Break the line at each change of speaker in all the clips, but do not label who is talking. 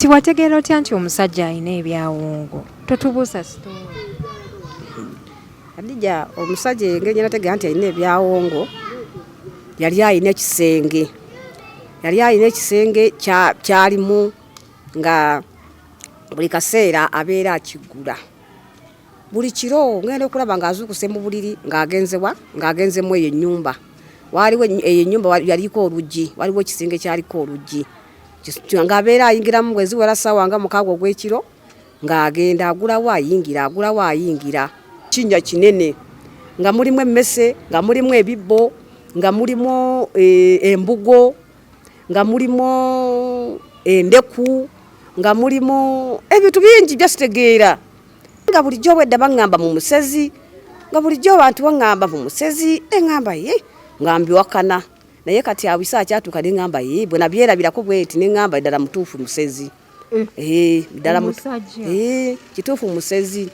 Tiwategeera otya nti omusajja alina ebyawongo totubuusa sitoowa
adija omusajja engeri gyenategeera nti alina ebyawongo yali alina ekisenge yali alina ekisenge kyalimu nga buli kaseera abeera akiggula buli kiro ngenda okulaba ng'azuukuse mu buliri ng'agenzewa ng'agenzemu eyo ennyumba waaliwo eyo ennyumba yaliko oluggi waliwo ekisenge kyaliko oluggi ng'abeera ayingiramu bweziwera ssaawa nga mukaaga ogw'ekiro ng'agenda agulawo ayingira agulawo ayingira kinnya kinene nga mulimu emmese nga mulimu ebibbo nga mulimu eh, embugo nga mulimu endeku nga mulimu ebintu bingi byasitegeera nga bulijjo obwedda baŋŋamba mu musezi nga bulijjo abantu baŋŋamba mu musezi eŋŋamba ye nga mbiwakana naye kati awisa akyatuuka ne ŋŋamba ye bwe nabyerabirako bweti ne ŋŋamba ddala mutuufu musezi eh. eh, ddala eh, kituufu musezi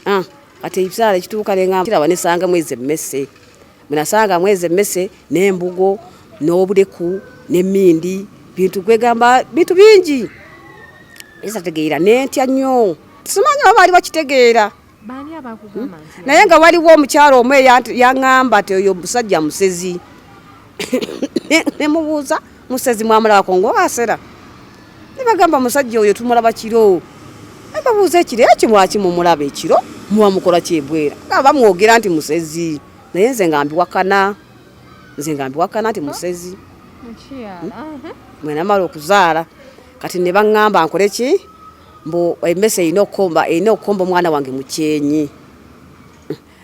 ah, kati ekisaala ekituuka nengaaba nesanga mwezi emmese munasanga mwezi emmese n'embugo n'obuleku n'emmindi bintu kwegamba bintu bingi esategeera nentya nnyo simanyi oba baali bakitegeera Hmm? naye nga waliwo omukyalo omu eyaŋamba ti oyo musajja musezi nemubuuza musezi mwamulabako ngaowasera nebagamba musajja oyo tumulaba kiro nebabuuza ekiro era kimwaki mumulaba ekiro muba mukola kyebwera nga bamwogera nti musezi naye nze nga mbiwakana nze nga mbiwakana nti musezi hmm? mwenamala okuzaala kati nebaŋamba nkoleki mbu emmese erina okukomba erina okukomba omwana wange mu kyenyi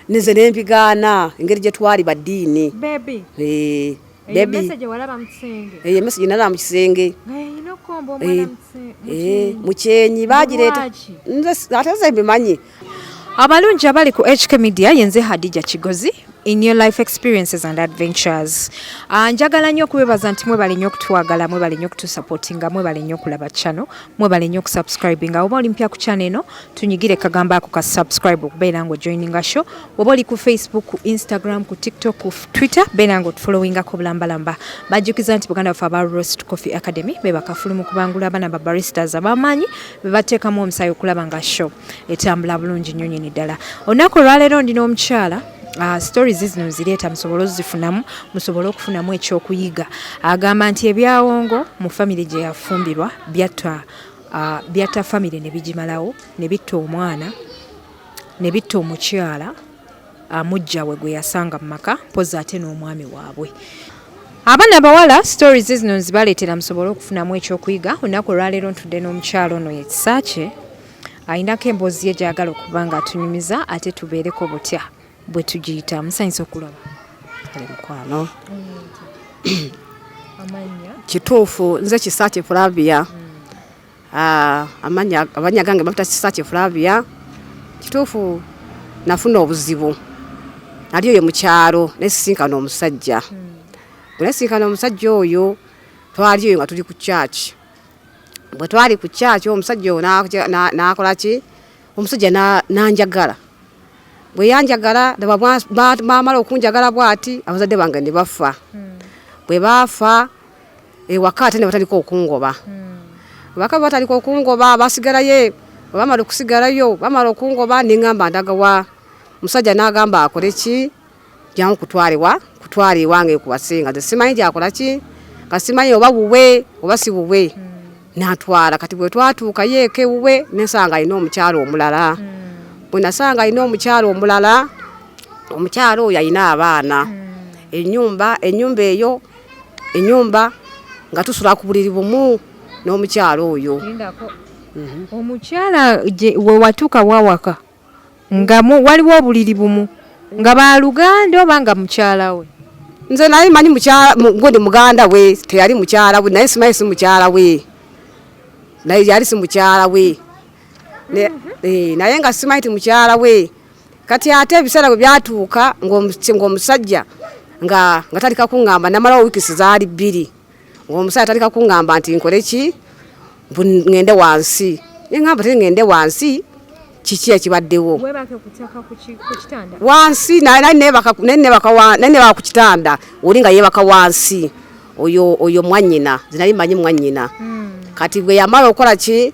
nze ne mbigaana engeri gye twali baddiini eh, eyo emmese gye nalaba mu kisenge eh, eh, mu kyenyi bagireeta ate nze mbimanyi abalungi
abali ku hk media yenze hadija kigozi in your life experiences and adventures ah, njagala nnyo okubebaza nti mwebale nnyo okutwagala mwebale nnyo okutusupportinga mwebale nnyo okulaba channel mwebale nnyo okusubscribinga oba oli mpya ku channel eno tunyigire kagambo ako ka subscribe okubeera nga ojoininga show oba oli ku facebook ku instagram ku tiktok ku twitter beera nga otufollowingako bulambalamba bajjukiza nti buganda baffe aba roast coffee academy bebakafulumu kubangula abaana ba baristas abamaanyi bebateekamu omusaayi okulaba nga show etambula bulungi nnyo nyini ddala olunaku olwaleero ndi n'omukyala Uh, stories zino nzireeta musobole ozifunamu musobole okufunamu ekyokuyiga agamba nti ebyawongo mu famiry gye yafumbirwa byatta uh, byatta famiry ne bigimalawo ne bitta omwana ne bitta omukyala uh, mujja we gwe yasanga mu maka mpozi ate n'omwami waabwe abaana abawala stories zino nzibaleetera musobole okufunamu ekyokuyiga olunaku olwaleero ntudde n'omukyalo ono yekisaakye alinako emboozi ye gyagala okuba nga atunyumiza ate tubeereko butya bwe tugiyita musanyusa okulaba mukwano
kituufu nze kisaakye flavia mm. ah, amanya abanya gange bakuta kisaakye flavia kituufu nafuna obuzibu nali oyo mukyalo nesisinkana omusajja mm. bwe nesisinkana omusajja oyo twali oyo nga tuli ku kyaki bwe twali ku kyaki omusajja oyo n'akola ki omusajja n'anjagala bwe yanjagala bamala okunjagala bwati abazadde bange ne bafa hmm. bwe baafa ewaka ate ne batandika okungoba hmm. abaka batandika okungoba basigalayo bamala okusigalayo bamala okungoba ne ŋamba ndagawa omusajja n'agamba akole ki jangu kutwale wa kutwale iwange kuwasinga nze simanyi gyakola ki nga simanyi oba wuwe oba si wuwe mm. natwala kati bwe twatuuka yeeka ewuwe nesanga alina omukyalo omulala mm. bwe nasanga alina omukyalo omulala omukyalo oyo alina abaana mm. enyumba enyumba eyo enyumba nga tusula ku buliri bumu n'omukyalo oyo mhm. omukyala
wewatuuka wawaka nga waliwo obuliri bumu nga baluganda oba nga mukyala we nze naye manyi
gundi muganda we teyali mukyala we naye simanyi si mukyala we naye yali si mukyala we eh, naye nga simanyi ti mukyala we kati ate ebiseera bwe byatuuka ng'omusajja nga nga talika kuŋŋamba namalawo wiikisi zaali bbiri omusajja atandika kungamba nti nkole ki ngende wansi nengamba te ngende wansi kiki ekibaddewo wansi nebaka ku kitanda oli nga yebaka wansi oyo mwanyina zinali manyi mwanyina hmm. kati bwe yamala okukola ki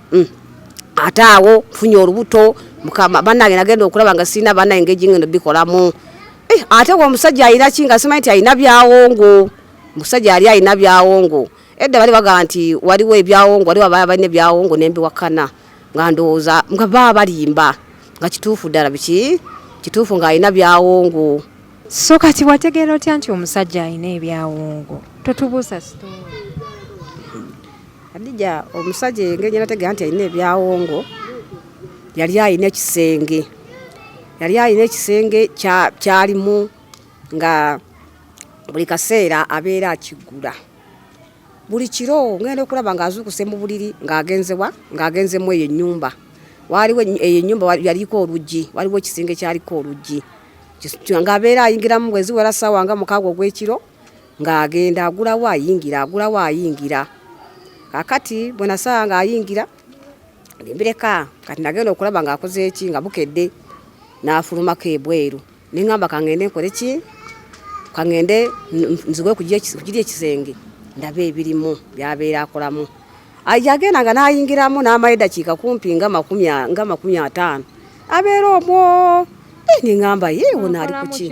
mm. ate awo nfunye olubuto mukama banange nagenda okulaba nga sirina baana engeri ngeno bikolamu eh, ate nga omusajja alina ki nga simanyi nti alina byawongo omusajja yali alina byawongo edda bali bagamba nti waliwo ebyawongo waliwo abaa balina ebyawongo nembiwakana nga ndowooza nga baa balimba nga kituufu ddala biki kituufu nga alina byawongo so kati
wategeera otya nti omusajja alina ebyawongo totubuusa sitoo
Adija omusajja engeri gye nategeera nti alina ebyawongo yali alina ekisenge yali alina ekisenge kyalimu nga buli kaseera abeera akiggula buli kiro ngenda okulaba ng'azuukuse mu buliri ng'agenzewa ng'agenzemu eyo ennyumba waaliwo eyo ennyumba yaliko oluggi waliwo ekisenge kyaliko oluggi ngabeera ayingiramu bweziwera saawa nga mukaaga ogw'ekiro ng'agenda agulawo ayingira agulawo ayingira kakati bwe nasaba ng'ayingira nembireka kati nagenda okulaba ng'akoze eki nga bukedde n'afulumako ebweru neŋamba kangende nkole ki kangende nzigwe kugiri ekisenge ndabe ebirimu byabeera akolamu yagenda nga n'ayingiramu n'amaye dakiika kumpi nga makumi ataano abeera omwo eh, neŋamba ye wona ali kuki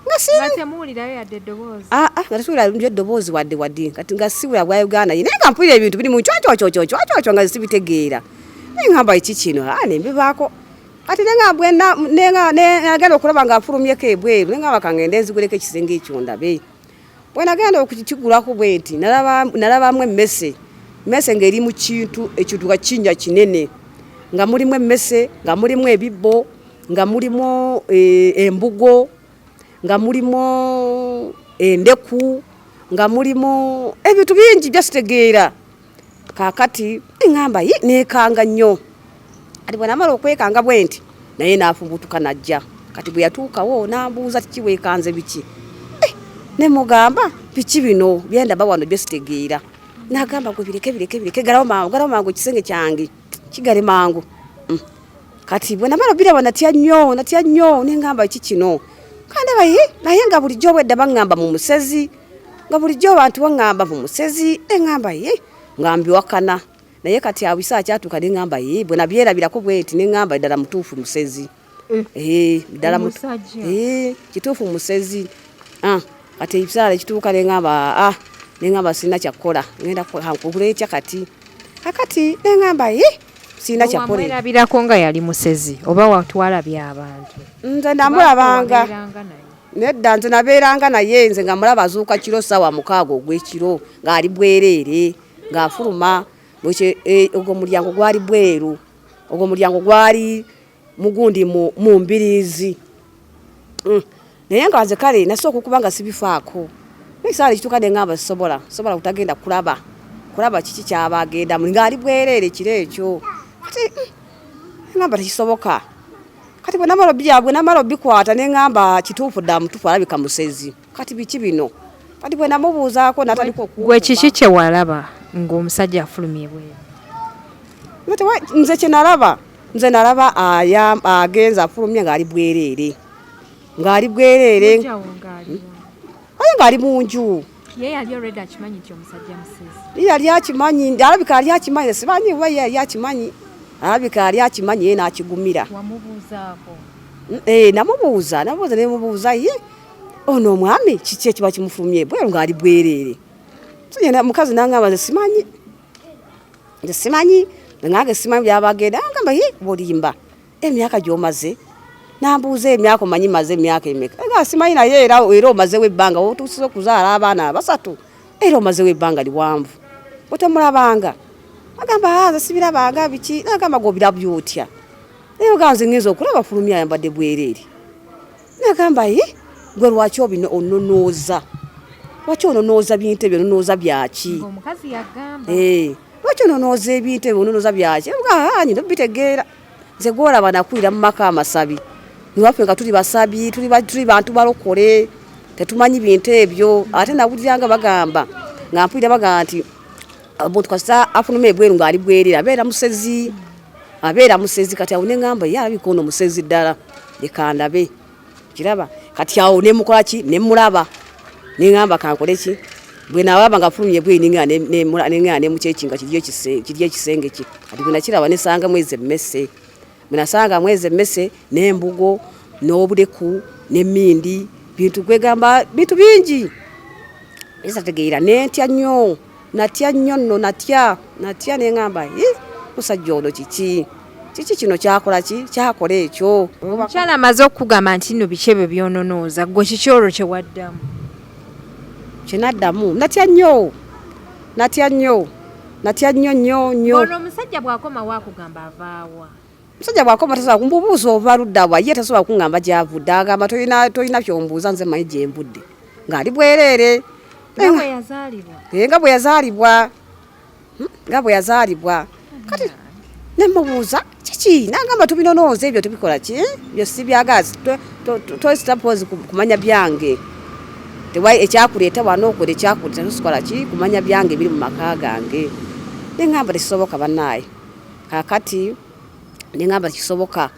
nga siina temuwulirayo yadde eddoboozi ah ah nga tetuwulira nyo eddoboozi wadde wadde kati nga siwulira bwa uganda ye naye nga mpulira ebintu biri mu cwacwacwacwacwacwa nga sibitegeera naye ngamba kiki kino ah nembivaako kati nenga bwena nenga nagenda okulaba nga afulumyeko ebweru nenga bakangenda enziguleko ekisenge ekyo ndabe Bwenagenda okukigulako bwenti nalabamu emmese mmese ng'eri mu kintu ekituka kinnya kinene nga mulimu emmese nga mulimu ebibbo nga mulimu eh, embugo nga mulimu endeku nga mulimu ebintu bingi byasitegeera kakati ngamba yi nekanga nnyo ati bwenamala okwekanga bwenti naye nafubutuka najja kati bwe yatuukawo nambuuza kiki wekanze biki eh, ne mugamba biki bino byendaba wano byo sitegeera nagamba gwe bireke bireke bireke galawo mangu galawo mangu ekisenge kyange kigale mangu mm. kati bwenamala obiraba natya nnyo natya nnyo nengamba ki kino kandaba ye naye nga bulijjo obwedda baŋŋamba mu musezi nga bulijjo abantu baŋŋamba mu musezi ne ŋŋamba ye nga mbiwakana naye kati awo bisaa kyatuuka ne ŋŋamba ye bwe nabyerabirako bwenti ne ŋŋamba ddala mutuufu musezi eh. Eh, ddala eh, kituufu musezi ah, kati ebisaala ekituuka ne ŋŋamba ah, ne ŋŋamba sirina kyakukola ŋenda kugula etya kati kakati ne ŋŋamba ye sirina kyakukolerabirako nga yali
musezi oba watwala byabantu nze ndamulabanga
nedda nze nabeeranga naye nze nga mulaba azuuka kiro ssaawa mukaaga ogw'ekiro ng'ali bwereere ng'afuluma e, ogwo mulyango gwali bweru ogwo mulyango gwali mugundi mu mbiriizi mm. naye nga nze kale nasi okukuba nga sibifaako ekisaala ekituuka ne ngamba sisobola sobola kutagenda kulaba kulaba kiki kyaba agendamu ng'ali bwereere kiro ekyo kati mm, ngamba tekisoboka kati bwe namala byabwe namala obikwata ne ngamba kituufu dda mutuufu alabika musezi kati biki bino kati bwe namubuuzaako nataliko gwe kiki kye walaba
ng'omusajja afulumye bwe nze
kye nalaba nze nalaba agenze afulumye ng'ali bwereere ng'ali bwereere aye ng'ali mu nju ye yali already akimanyi nti omusajja musezi ye yali akimanyi ndi alabika yali akimanyi simanyi oba ye yali akimanyi alabika yali akimanyi ye n'akigumira wamubuuzaako eh, namubuuza namubuuza nemubuuza ye ono omwami kiki ekiba kimufulumye bweru ng'ali bwereere tugenda mukazi nangamba nze simanyi nze simanyi nange simanyi byabagenda angamba ye bolimba emyaka gyomaze nambuuza emyaka omanyi maze emyaka emeka nga simanyi naye era era omazewo ebbanga wotuusiza okuzaala abaana basatu era omazewo ebbanga liwanvu otemulabanga agamba ah, nze sibirabanga biki nagamba gobirabya otya naye ogamba nze ngenza okulaba fulumya ayambadde bwereere nagamba ye gwe lwaki obino ononooza lwaki ononooza bintu ebyo ononooza byaki eh, lwaki ononooza ebintu ebyo ononooza byaki ah, nyina obitegeera nze gwolaba nakulira mu maka amasabi niwaffe nga tuli basabi tuli bantu balokole tetumanyi bintu ebyo ate nawuliranga bagamba nga mpulira bagamba nti omuntu kasita afunuma ebweru ng'ali bwerera abeera musezi abeera musezi kati awo ne ŋamba ye alabika ono musezi ddala lekandabe kiraba kati awo nemukola ki nemulaba nengamba kankole ki bwe nawaba nga fulumye bwe ninga nemula nenga ne muchekinga kirye kise kirye kisenge ki kati bwe nakiraba nesanga mweze messe munasanga mweze messe nembugo nobudeku nemindi bintu kwegamba bintu bingi esa tegeera nentya nyo Natya nnyo nno natya natya ne ŋamba musajja ono kiki kiki kino kyakola ki kyakola ekyo omukyala amaze
okukugamba nti nno biki ebyo byononooza gwe kiki olwo kyewaddamu kyenaddamu
natya nnyo natya nnyo natya
nnyo nnyo nnyo ono omusajja bw'akomawo akugamba avaawa musajja bwakoma
tasobola kumbubuuza ova ludda wa ye tasobola kungamba gyavudde agamba tolina kyombuuza nze manyi gyembudde ng'ali bwereere nga bwe yazaalibwa eh, nga bwe yazaalibwa hmm, kati nemubuuza kiki nagamba tubinonooza ebyo tubikola ki byo sibyagazi tositapozi kumanya byange tewai ekyakuleeta wana okola ekyakuleeta tosikola ki kumanya byange biri mu maka gange nengamba tekisoboka banaaye kakati nengamba kisoboka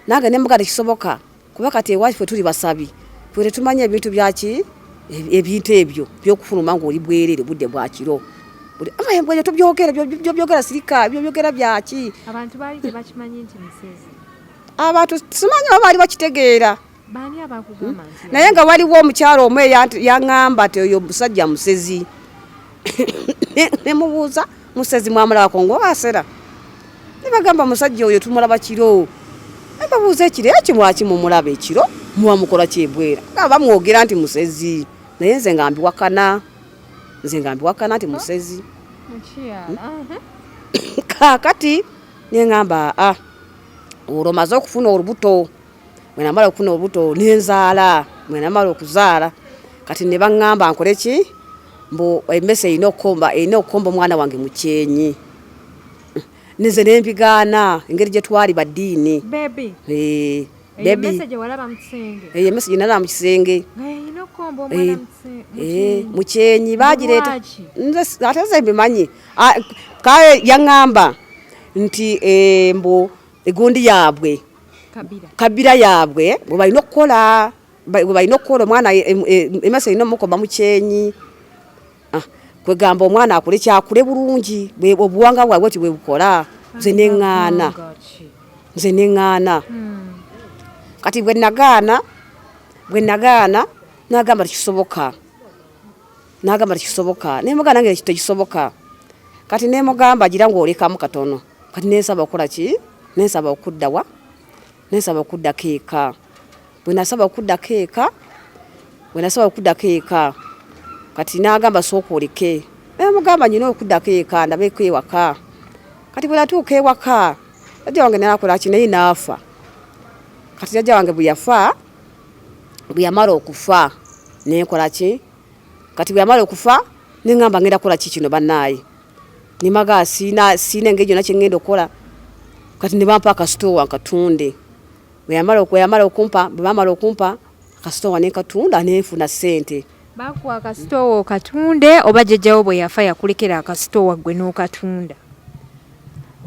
nange nemuga tekisoboka kuba kati ewaffe tuli basabi ffe tetumanya ebintu byaki ebintu ebyo byokufuluma ngaoli bwerere budde bwakiro amaembweyo tubyogera byobyogera sirika byobyogera byaki
abantu
simanyi oba baali bakitegeera Hmm?
naye nga waliwo omukyalo
omu eyaŋamba ti oyo musajja musezi nemubuuza musezi mwamulabako ngaowasera nebagamba musajja oyo tumulaba kiro nebabuuza ekiro era kimwaki mumulaba ekiro muba mukola kyebwera nga bamwogera nti musezi naye nze nga mbiwakana nze nga mbiwakana nti musezi hmm? kakati neŋamba a ah, olwo maze okufuna olubuto mwenamala okufuna obuto nenzaala mwenamala okuzaala kati ne baŋŋamba nkole ki mbu emmese erina okukomba erina okukomba omwana wange mu kyenyi nze ne mbigaana engeri gye twali baddiini
eyo emmese gye
nalaba mu kisenge mu kyenyi bagireeta ate nze mbimanyi kale yaŋŋamba nti eh, mbu egundi yaabwe kabira yaabwe bwe balina okukola bwe balina okukola omwana emaso erina omukoma mu kyenyi ah, kwegamba omwana akule kyakule bulungi obuwanga bwabwe ti bwebukola nze neŋŋaana nze neŋŋaana hmm. kati bwe nagaana bwe nagaana nagamba tikisoboka nagamba tekisoboka nemuga nange tekisoboka kati nemugamba agira ngu olekamu katono kati nensaba okukola ki nensaba okuddawa nensaba okuddako eka bwenasaba okuddako eka bwenasaba okuddako eka kati nagamba sooka oleke nemugamba nyina okuddako eka ndabeeko ewaka kati bwenatuuka ewaka jajja wange nakola ki naye naafa kati jajja wange bweyafa bweyamala okufa nenkola ki kati bwe yamala okufa ne ngamba ngenda kukola ki kino bannaaye ne maga siina siina engeri gyonna kye ngenda okukola kati ne bampa akasitoowa nkatunde bwe yamala bwe yamala okumpa bwe bamala okumpa akasitoowa ne nkatunda ne nfuna ssente bakuwa akasitoowa
okatunde oba jjajjawo bwe yafa yakulekera akasitoowa ggwe n'okatunda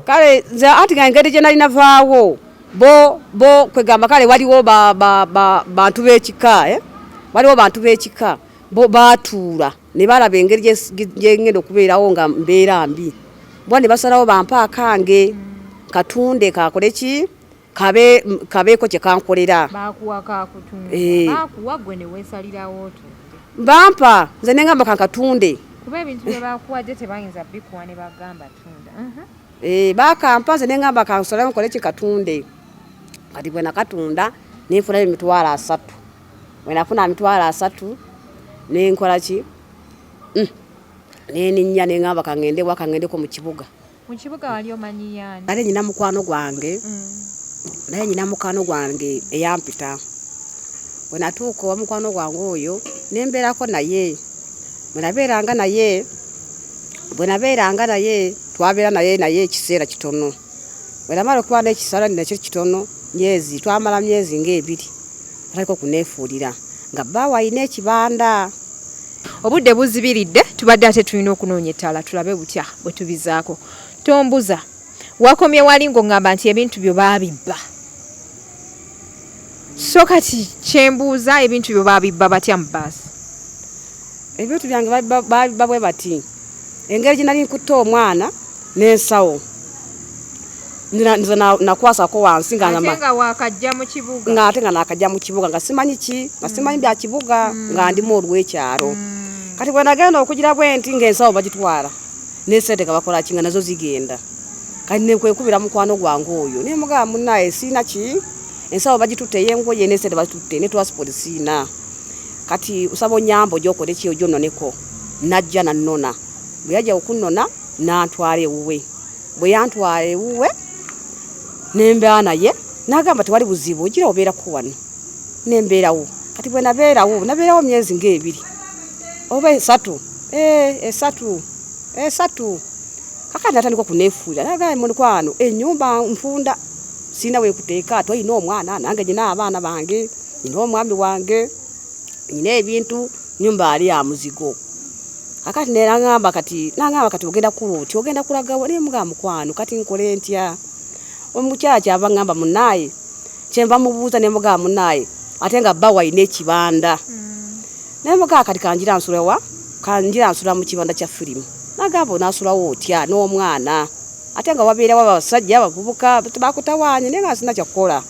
kale nze anti nga engeri gye nali navaawo bo bo kwegamba kale waliwo ba, ba, ba, bantu b'ekika eh? waliwo bantu b'ekika bo baatuula ne balaba engeri gyengenda okubeerawo nga mbeera mbi bwa ne basalawo bampa akange katunde kakole ki kabe kabeeko kye kankolera bakuwa kakutunde
eh. bakuwa gwe ne wesalirawo otunde bampa
nze ne ngamba kankatunde kuba ebintu bye
bakuwa gye tebayinza bikuwa ne bagamba tunda mhm. eh bakampa
nze ne ngamba kansalawo nkole kye katunde kati bwe nakatunda nenfuna emitwalo asatu bwe nafuna emitwalo asatu nenkola ki mm. neninya nengamba kangende wa kangendeko mu kibuga mu kibuga wali
omanyi yaani nali nyina mukwano
gwange mm. naye nyina mukwano gwange eyampita bwenatuuka owa mukwano gwange oyo nembeerako naye bwenabeeranga naye bwenabeeranga naye twabeera naye naye ekiseera kitono bwenamala okuba nekisala nakyo kitono myezi twamala myezi ngaebiri Aliko kuneefuulira nga bbaawe alina ekibanda. Obudde
buzibiridde tubadde ate tulina okunoonya ettaala tulabe butya bwe tubizaako. Tombuza wakomye wali ng'ongamba nti ebintu byo baabibba. So kati kyembuuza ebintu byo baabibba batya mu bbaasi?
Ebintu byange babiba bwe bati engeri gye nali nkutte omwana n'ensawo nze nakwasako wansi ngaate
nga nakajja mu
kibuga nga simanyi ki nga simanyi bya kibuga mm. nga ndimu olw'ekyalo mm. kati bwe nagenda okugira bwe nti ng'ensawo bagitwala n'esente nga bakola ki nga nazo zigenda kati nekwekubira mukwano gwange oyo naye mugaba munnaye siina ki ensawo bagitutte eyengoye n'esente bagitutte ne twasipoti siina kati usaba onyamba oja okole ki ojo noneko najja nanona bwe yajja okunona nantwala ewuwe bwe yantwala ewuwe nembeera naye nagamba tewali buzibu ogira obeerako wano nembeerawo kati bwe nabeerawo nabeerawo myezi ngaebiri oba esatu eh, esatu esatu kakati natandika okunefuulira nagaa mulikwano enyumba nfunda sirina wekuteeka twalina omwana nange nyina abaana bange nina omwami wange nina ebintu nyumba ali ya muzigo akati nera ngamba kati nangamba kati ogenda kula otya ogenda kulaga wali mga mukwano kati nkole ntya omukyala kyava ngamba munaye kyenva mubuuza ne mga munaye ate nga bba walina ekibanda mm. naye mga kati kanjira nsula wa kanjira nsula mu kibanda kya firimu nagamba onasulawo otya n'omwana ate nga wabeerawo abasajja abavubuka bakutawaanye naye nga sina kyakukola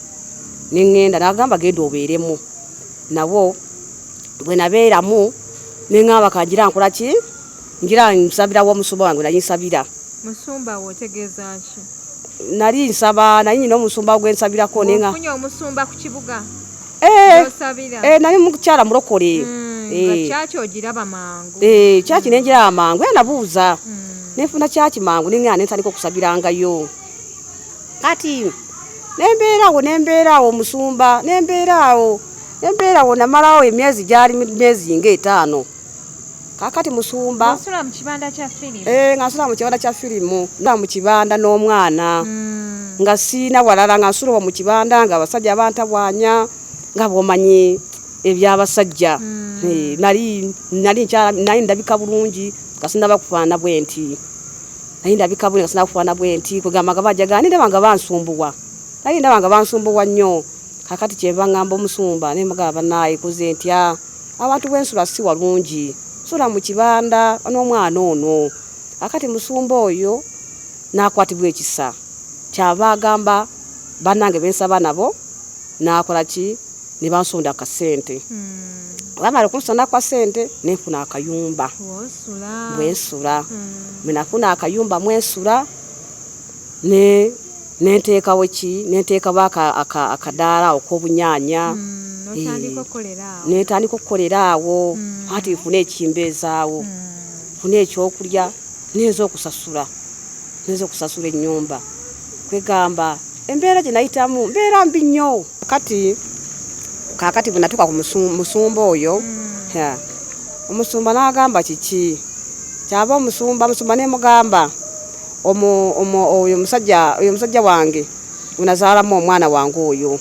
ne ŋŋenda n'agamba genda obeeremu nabo bwe nabeeramu ne ŋŋamba kangira nkola ki ngira nsabira wa omusumba wange nali nsabira musumba wo
otegeeza ki nali nsaba
naye nyina omusumba gwe nsabirako naye nga ofunye omusumba ku
kibuga eh, osabira
eh, nali mukyala mulokole mm, eh. kyaki
ogiraba mangu eh, kyaki nengira
amangu era nabuuza mm. nefuna kyaki mangu ninga nentandika okusabirangayo kati nembeera awo nembeera awo omusumba nembeera awo nembeera awo namalawo emyezi gyali myezi nga etaano kakati musumba
ngasula mu kibanda kya
firimu eh, ngaa mu kibanda n'omwana hmm. nga siina walala nga nsulwa mu kibanda nga abasajja abantabwanya nga bwomanyi ebyabasajja hmm. eh, nali nkyala naye ndabika bulungi kasinaba kufaana bwenti naye ndabika buli nasina kufaana bwe nti kwegamba nga bajaga naye ndaba nga bansumbuwa naye ndaba nga bansumbuwa nnyo kakati kyeva ngamba omusumba naye mugamba banaye kuze ntya ah, abantu bwensula si walungi sula mu kibanda n'omwana ono akati musumba oyo nakwatibwa ekisa kyava agamba banange bensaba nabo nakola ki nebansonda ka sente hmm. bamala okunsonda kwa sente nenfuna akayumba bwensula hmm. menafuna akayumba mwensula ne nenteekawo ki nenteekawo akadaala okw'obunyanya hmm, netandika okukolera awo ati nfuna ekimbeezaawo nfuna ekyokulya neza okusasula neza okusasula ennyumba kwegamba embeera gye nayitamu mbeera mbi nnyo kati kakati bwe natuuka ku musumba oyo hmm. omusumba n'agamba kiki kyava omusumba musumba ne mugamba oyo omusajja wange unazaalamu omwana wange oyo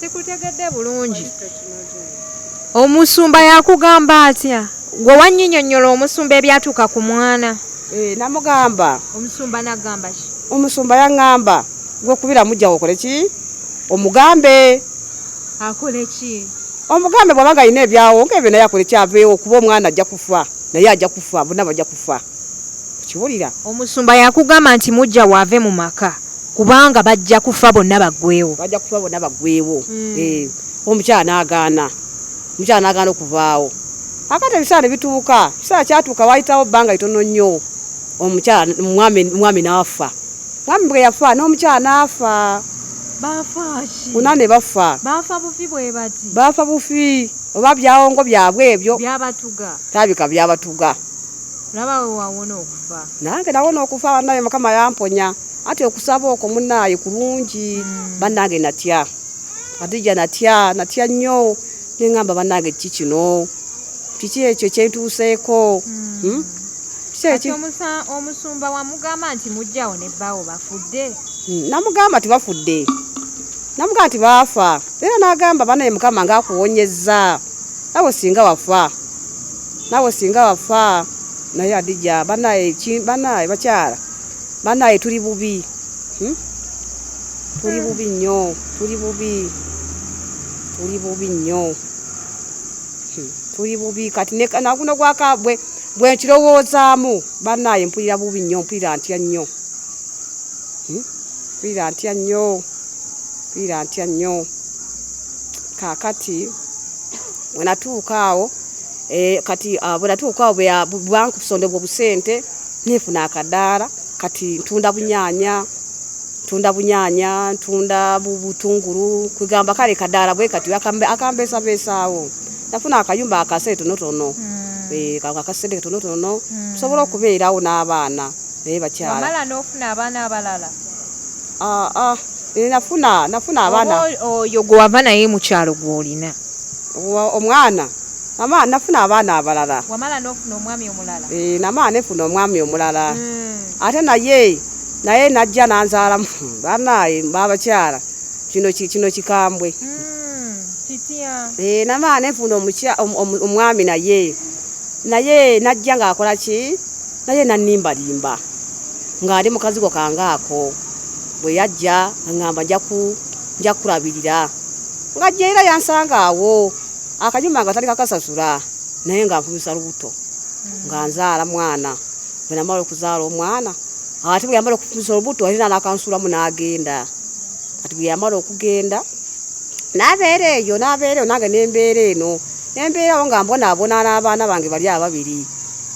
sikutegedde
bulungi omusumba yakugamba atya gwe wanyinyonyola omusumba ebyatuuka ku mwana eh, namugamba
omusumba
nagamba ki omusumba yangamba
gwe kubira mujja wokole ki omugambe
akole ki omugambe bwaba nga
alina ebyawo nga ebyo naye akole kyaveewo kuba omwana ajja kufa naye ajja kufa bona bajja kufa kiwulira omusumba
yakugamba nti mujja waave mu maka kubanga bajja kufa bonna baggweewo bajja kufa bonna baggweewo hmm. eh,
omukyala n'agaana omukyala n'agaana okuvaawo akati ebiseera ne bituuka ekiseera kyatuuka waayitawo bbanga litono nnyo omukyala omwami n'afa omwami bwe yafa n'omukyala n'afa
una ne bafa
baafa bufi bwe
bati baafa bufi
oba byawongo byabwe ebyo byabatuga tabika
byabatuga
Laba we
wawona okufa. Nange nawona okufa
banaye mukama yamponya. Ati okusaba okwo munaye kulungi mm. banange natya. Adija natya natya nnyo ne ngamba banange kiki kino. Kiki ekyo kyentuuseeko. Mm. Hmm?
Kiki omusumba wamugamba nti mujjawo ne bbawo bafudde. Hmm, namugamba nti
bafudde. Namugamba nti baafa. Era nagamba banaye mukama ngakuwonyezza. Awo singa wafa. nawe singa wafa naye adija banaye banaye bakyala banaye tuli bubi hmm? tuli bubi nnyo tuli bubi tuli bubi nnyo hmm. tuli bubi kati naguno gwakabwe bwenkirowoozaamu banaye mpulira bubi nnyo mpulira ntya nnyo hmm? mpulira ntya nnyo mpulira ntya nnyo kakati wenatuuka awo Eh, kati ah, bwenatuuka awo bwankusonda obwo busente nefuna akadaala kati ntunda bunyanya ntunda bunyanya ntunda butungulu kwegamba kale kadaala bwe kati akambeesabeesaawo nafuna akayumba akasente tonotono hmm. eh, akasente katonotono hmm. nsobola okubeerawo n'abaana naye bakyala nofuna abaana
abalala ah, ah, eh,
nafuna nafuna abaana oyo gwewava naye
mukyalo gwolina omwana
namala nafuna abaana abalala wamala nofuna omwami
omulala eh, namala nefuna
omwami omulala hmm. ate naye naye najja nanzaalamu banaye babakyala kino kino kikambwe hmm, kitya eh, namala nefuna omwami naye naye najja ngaakola ki naye nanimbalimba ngaali mukazigo kangaako bwe yajja aŋamba njaku nja kukulabirira nga jjaira yansanga awo akanyumba nga tali kakasasula naye nga nfumisa lubuto nga nzaala mwana bwe namala okuzaala omwana ate bwe yamala okufumisa olubuto ate nanakansuulamu n'agenda kati bwe yamala okugenda nabeera eyo nabeera eyo nange nembeera eno nembeerawo nga mbonaabona n'abaana bange bali ababiri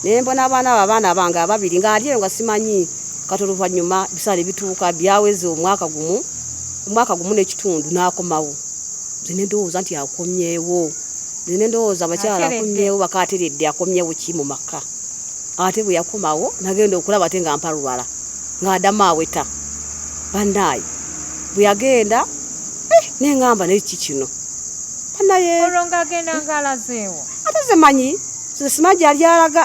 nembona abaana abo abaana bange ababiri nga ali eyo nga simanyi kati oluvannyuma bisaala ebituuka byaweze omwaka gumu omwaka gumu n'ekitundu n'akomawo nze ne ndowooza nti akomyewo nze ne ndowooza abakyala akomyewo bakaateredde akomyewo ki mu maka ate bwe yakomawo nagenda okulaba ate nga mpalwala ng'adamu aweta bannaayi bwe yagenda eh, nengamba naye ki kino bannayee olwo ng'agenda
ng'alazeewo ate ze manyi
ze simanyi gyali alaga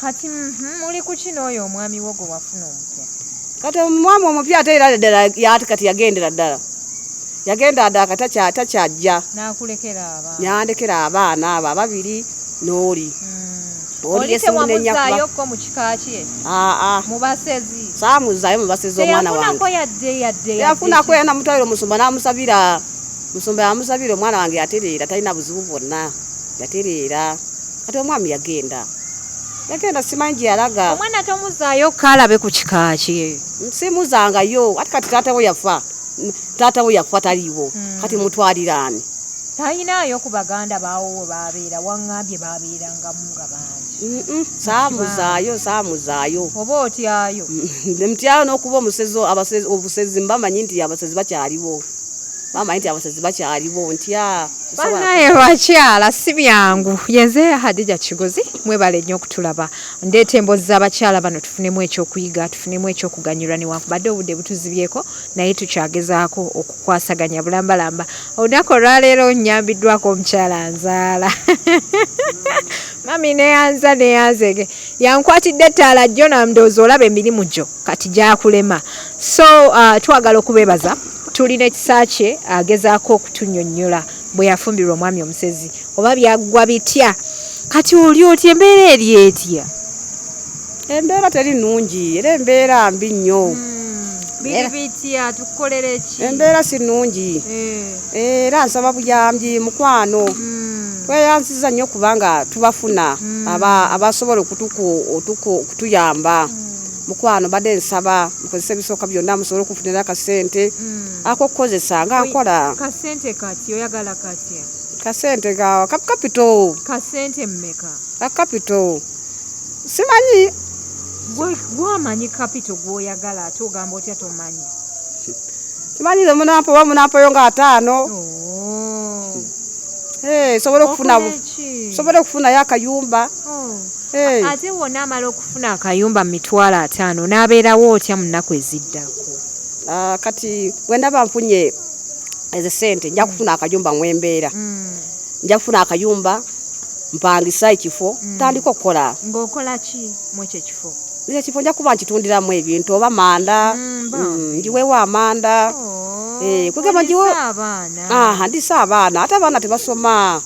Kati
mhm, muli ku kino oyo omwami wo gwe wafuna omupya. Kati
omwami omupya ate era ddala yati kati yagendera ddala yagenda ddala kati takyajja yandekera abaana abo ababiri n'oli hmm.
oliyesemunenyakko mu kika kye mubasezi saamuzaayo mubasezi
omwana wangeyafunako yana mutwaliro omusumba n'amusabira musumba yamusabira omwana wange yatereera talina buzibu bwonna yatereera kati omwami yagenda yagenda simanyi gye yalaga omwana tomuzaayo
kaalabe ku kika kye simuzangayo
ati kati taata we yafa taata we yafa taliiwo hmm. kati mutwaliraani tayinaayo
ku baganda baawo we babeera waŋŋambye babeerangamu nga bangi saamuzaayo saamuzaayo
oba otyayo
nemutyayo
n'okuba omusezi obusezi mbamanyi nti abasezi bakyaliwo bamanyi nti abasazi bakyaliwo ntya banaye
bakyala si byangu yenze hadija kigozi mwebale nnyo okutulaba ndeeta emboozi z'abakyala bano tufunemu ekyokuyiga tufunemu ekyokuganyulwa newankubadde obudde butuzibyeko naye tukyagezaako okukwasaganya bulambalamba olunaku olwaleero nyambiddwako omukyala nzaala mami neyanza neyanzege yankwatidde ettaala jjo namdoozi olaba emirimu gyo kati gyakulema so uh, twagala okubebaza tulina ekisa kye agezaako okutunyonyola bwe yafumbirwa omwami omusezi oba byaggwa bitya kati oli oti embeera eri etya embeera
teri nungi era embeera mbi
nnyo
hmm.
embeera si nungi
eh. era nsaba buyambi mukwano hmm. tweyanziza nnyo kubanga tubafuna hmm. abasobola okutuyamba mukwano badde nsaba mukozesa ebisooka byonna musobole okufunira akasente mm. akokukozesa nga nkola kasente kati
oyagala katya kasente
gawa kapito kasente mmeka
akapito
simanyi
gwamanyi kapito gwoyagala ate ogamba otya tomanyi
simanyi ze munampa oba munampayo nga ataano oh. eh, sobola okufunayo akayumba oh. eh.
ate wona amala Funa akayumba mu mitwalo ataano onaabeerawo otya mu nnaku eziddako? Ah, kati
bwe ndaba nfunye ezo sente nja kufuna akayumba mwembeera mm. nja kufuna akayumba mpangisa ekifo mm. tandika okukola ngaokolaki
mwekyo ekifo ekyo ekifo nja kuba
nkitundiramu ebintu oba manda mm, mm, njiwewo amanda oh, eh, kugamba njiwe
ndisa abaana ate
abaana tebasoma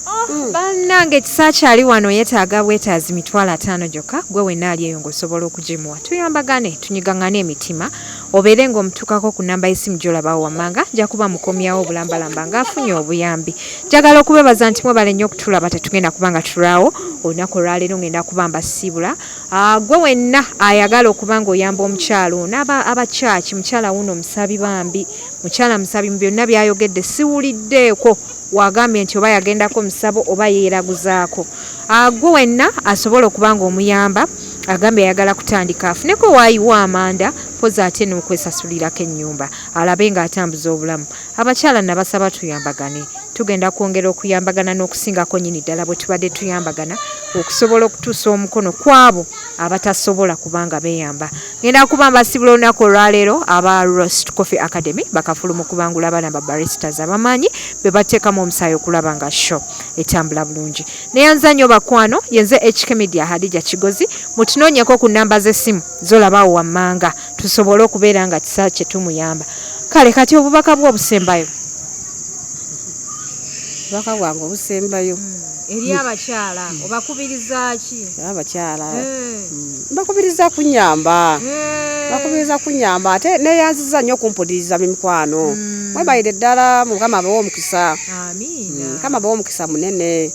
Oh, mm. bannange
kisakyali wano yetaaga bwetaazi mitwalo ataano gyokka gwe wenna ali eyo ng'osobola okugimuwa tuyambagane tunyigangane emitima obeere ng'omutuukako ku namba y'essimu gyolabawo wammanga nja kuba mukomyawo obulambalamba ng'afunye obuyambi njagala okubebaza nti mwebale nnyo okutulaba tetugenda kuba nga tulaawo olunaku olwaleero ng'enda kuba mbasiibula ah, gwe wenna ayagala okuba ng'oyamba omukyalo naaba abakyaki mukyala wuuno omusabi bambi mukyala musabi mu byonna byayogedde siwuliddeeko wagambye nti oba yagendako musabo oba yeeraguzaako agwo wenna asobola okuba nga omuyamba agambye ayagala kutandika afuneko waayiwa amanda poza ate n'okwesasulirako ennyumba alabe ng'atambuza obulamu abakyala nabasaba tuyambagane tugenda kwongera okuyambagana n'okusingako nyini ddala bwe tubadde tuyambagana okusobola okutuusa omukono kwabo abatasobola kubanga beeyamba ngenda kuba mbasibula olunaku olwaleero aba rost coffee academy bakafulu mu kubangula abaana ba baristas abamaanyi be bateekamu omusaayi okulaba nga show etambula bulungi neyanza nnyo bakwano yenze hk media hadija kigozi mutunoonyeko ku namba z'essimu zolabaawo wammanga tusobole okubeera nga kisa kye tumuyamba kale kati obubaka bwe obusembayo obubaka
bwange obusembayo hmm. eri
abakyala obakubirizaki abakyala eh. hmm.
Bakubiriza kunyamba hmm. bakubiriza kunyamba ate neyanziza nnyo okumpuliriza mimikwano hmm. mwebayire ddala mukama abawa omukisa hmm, mukama
abawa omukisa
munene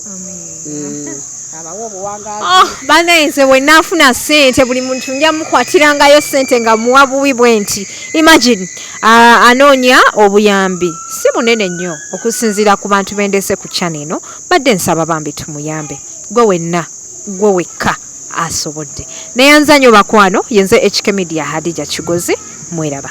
Oh, banaye nze wenna
afuna sente buli muntu nja mukwatirangayo sente nga muwa buwi bwe nti imagine uh, anoonya obuyambi si munene nnyo okusinziira ku bantu bendese ku chana eno badde nsaba bambi tumuyambe gwe wenna gwe wekka asobodde. Neyanza nyo bakwano yenze HK media Hadijah Kigozi mweraba.